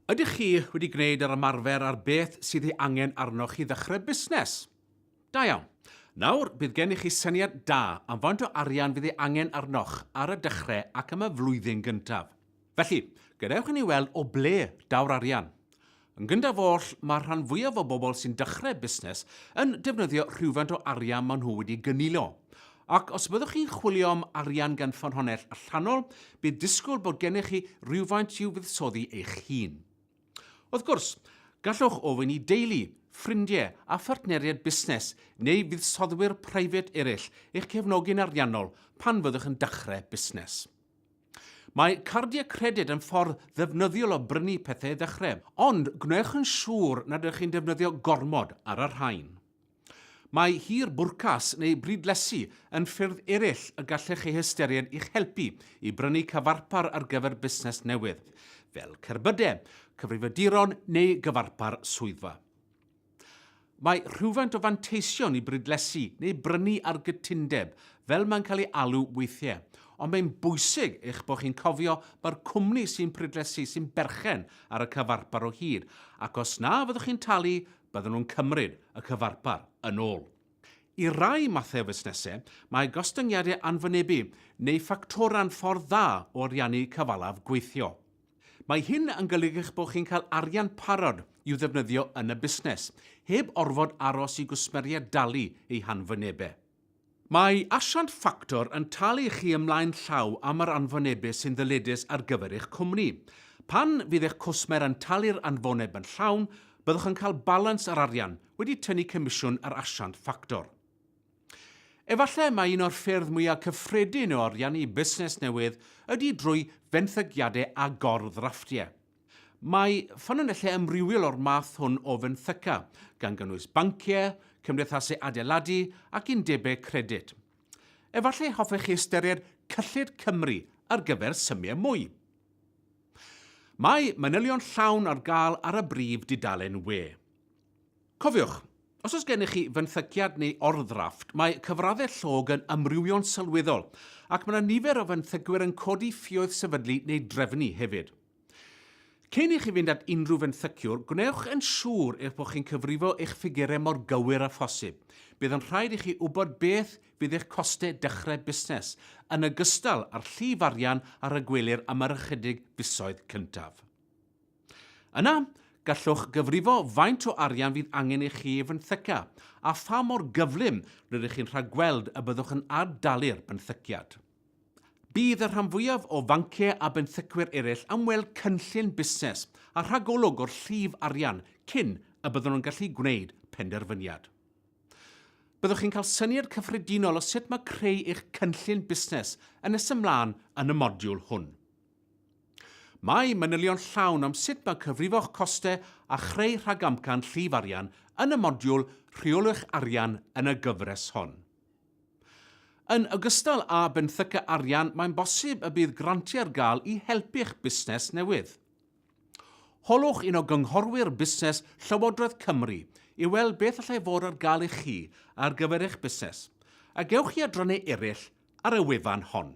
Ydych chi wedi gwneud yr ymarfer ar beth sydd ei angen arnoch i ddechrau busnes? Da iawn. Nawr, bydd gennych chi syniad da am faint o arian fydd ei angen arnoch ar y dechrau ac am y flwyddyn gyntaf. Felly, gadewch i ni weld o ble daw'r arian. Yn gyntaf oll, mae'r rhan fwyaf o bobl sy'n dechrau busnes yn defnyddio rhywfaint o arian maen nhw wedi gynilo, Ac os byddwch chi'n chwilio am arian gan ffynhonnell allanol, bydd disgwyl bod gennych chi rywfaint i'w fuddsoddi eich hun. Wrth gwrs, gallwch ofyn i deulu, ffrindiau a phartneriaid busnes neu fuddsoddwyr preifat eraill eich cefnogi'n ariannol pan fyddwch yn dechrau busnes. Mae cardiau credyd yn ffordd ddefnyddiol o brynu pethau i ddechrau, ond gwnewch yn siŵr nad ydych chi'n defnyddio gormod ar y rhain. Mae hir bwrcas neu brydlesu yn ffyrdd eraill y gallech eu hystyried i'ch helpu i brynu cyfarpar ar gyfer busnes newydd, fel cerbydau, cyfrifiaduron neu gyfarpar swyddfa. Mae rhywfaint o fanteision i brydlesu neu brynu ar gytundeb, fel mae'n cael ei alw weithiau, ond mae'n bwysig eich bod chi'n cofio mai'r cwmni sy'n prydlesu sy'n berchen ar y cyfarpar o hyd, ac os na fyddwch chi'n talu bydden nhw'n cymryd y cyfarpar yn ôl. I rai mathau o fusnesau, mae gostyngiadau anwynebu neu ffactorau'n ffordd dda o ariannu cyfalaf gweithio. Mae hyn yn golygu eich bod chi'n cael arian parod i'w ddefnyddio yn y busnes, heb orfod aros i gwsmeriaid dalu eu hanwynebau. Mae asiant ffactor yn talu i chi ymlaen llaw am yr anfonebus sy'n ddyledus ar gyfer eich cwmni. Pan fydd eich cwsmer yn talu'r anfoneb yn llawn, byddwch yn cael balans yr arian, wedi tynnu comisiwn yr asiant ffactor. Efallai mai un o'r ffyrdd mwyaf cyffredin o ariannu busnes newydd ydy drwy fenthygiadau a gor-ddrafftiau. Mae ffynonellau amrywiol o'r math hwn o fenthyca, gan gynnwys banciau, cymdeithasau adeiladu ac undebau credyd. Efallai hoffech chi ystyried cyllid Cymru ar gyfer symiau mwy. Mae manylion llawn ar gael ar y brif dudalen we. Cofiwch, os oes gennych chi fenthyciad neu orddrafft, mae cyfraddau llog yn amrywio'n sylweddol, ac mae yna nifer o fenthycwyr yn codi ffioedd sefydlu neu drefnu hefyd. Cyn i chi fynd at unrhyw fenthyciwr, gwnewch yn siŵr eich bod chi'n cyfrifo eich ffigurau mor gywir â phosib. Bydd yn rhaid i chi wybod beth fydd eich costau dechrau busnes, yn ogystal â'r llif arian a ragwelir am yr ychydig fisoedd cyntaf. Yna, gallwch gyfrifo faint o arian fydd angen i chi ei fenthyca a pha mor gyflym rydych chi'n rhagweld y byddwch yn ad-dalu'r benthyciad. Bydd y rhan fwyaf o fanciau a benthycwyr eraill am weld cynllun busnes a rhagolwg o'r llif arian cyn y byddwn yn gallu gwneud penderfyniad. Byddwch chi'n cael syniad cyffredinol o sut mae creu eich cynllun busnes yn nes ymlaen yn y modiwl hwn. Mae manylion llawn am sut mae cyfrifo costau a chreu rhagamcan llif arian yn y modiwl Rheoliwch Arian yn y gyfres hon. Yn ogystal â benthyca arian mae'n bosib y bydd grantiau ar gael i helpu'ch busnes newydd. Holwch un o Gynghorwyr Busnes Llywodraeth Cymru i weld beth allai fod ar gael i chi ar gyfer eich busnes, a gewch chi adrannau eraill ar y wefan hon.